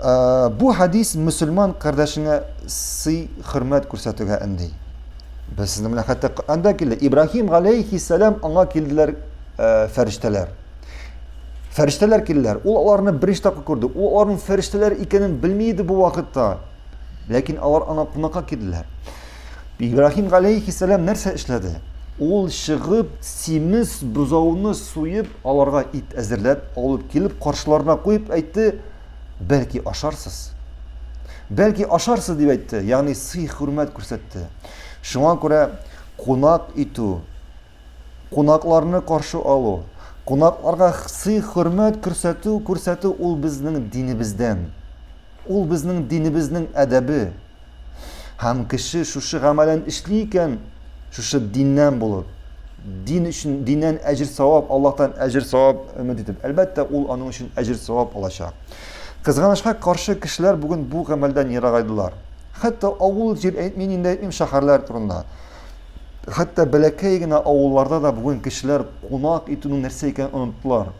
Ә, бу хадис мөселман кардәшеңә сый хөрмәт күрсәтүгә әндей. Без сезнең белән хәтта Коръәндә килде. Ибраһим галәйһиссәлам аңа килделәр ә, фәрештәләр. Фәрештәләр килделәр. Ул аларны беренче тапкыр күрде. Ул аларның фәрештәләр икәнен белми иде бу вакытта. Ләкин алар аңа кунакка килделәр. Ибраһим галәйһиссәлам нәрсә эшләде? Ул чыгып, симез бозауны суеп, аларга ит әзерләп, алып килеп каршыларына куеп әйтте, бәлки ашарсыз. Бәлки ашарсыз дип әйтте, ягъни сый-хөрмәт күрсәтте. Шуңа күрә кунак итү, кунакларны каршы алу, кунакларга сый-хөрмәт күрсәтү, күрсәтү ул безнең динебездән. Ул безнең динебезнең әдәбе. Һәм кеше шушы гамәлен эшли икән, шушы диннән булып, дин өчен диннән әҗер савап, Аллаһтан әҗер савап өмет итеп, әлбәттә, ул аның өчен әҗер савап алачак. Кызганычка каршы, кешеләр бүген бу гамәлдән ерагайдылар. Хәтта авыл җир әйтмин инде әйтмим шәһәрләр турында. Хәтта бәләкәй генә авылларда да бүген кешеләр кунак итүнең нәрсә икәнен оныттылар.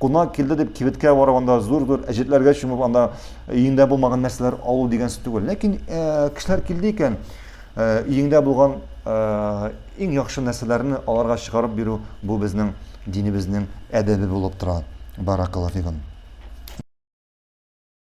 Кунак килде дип кибеткә барып анда зур-зур әҗәтләргә чумып анда өеңдә булмаган нәрсәләр алу дигәнсе түгел. Ләкин кешеләр килде икән, өеңдә булган иң яхшы нәрсәләрне аларга чыгарып бирү бу безнең динебезнең әдәбе булып тора. Баракаллаһу фикум.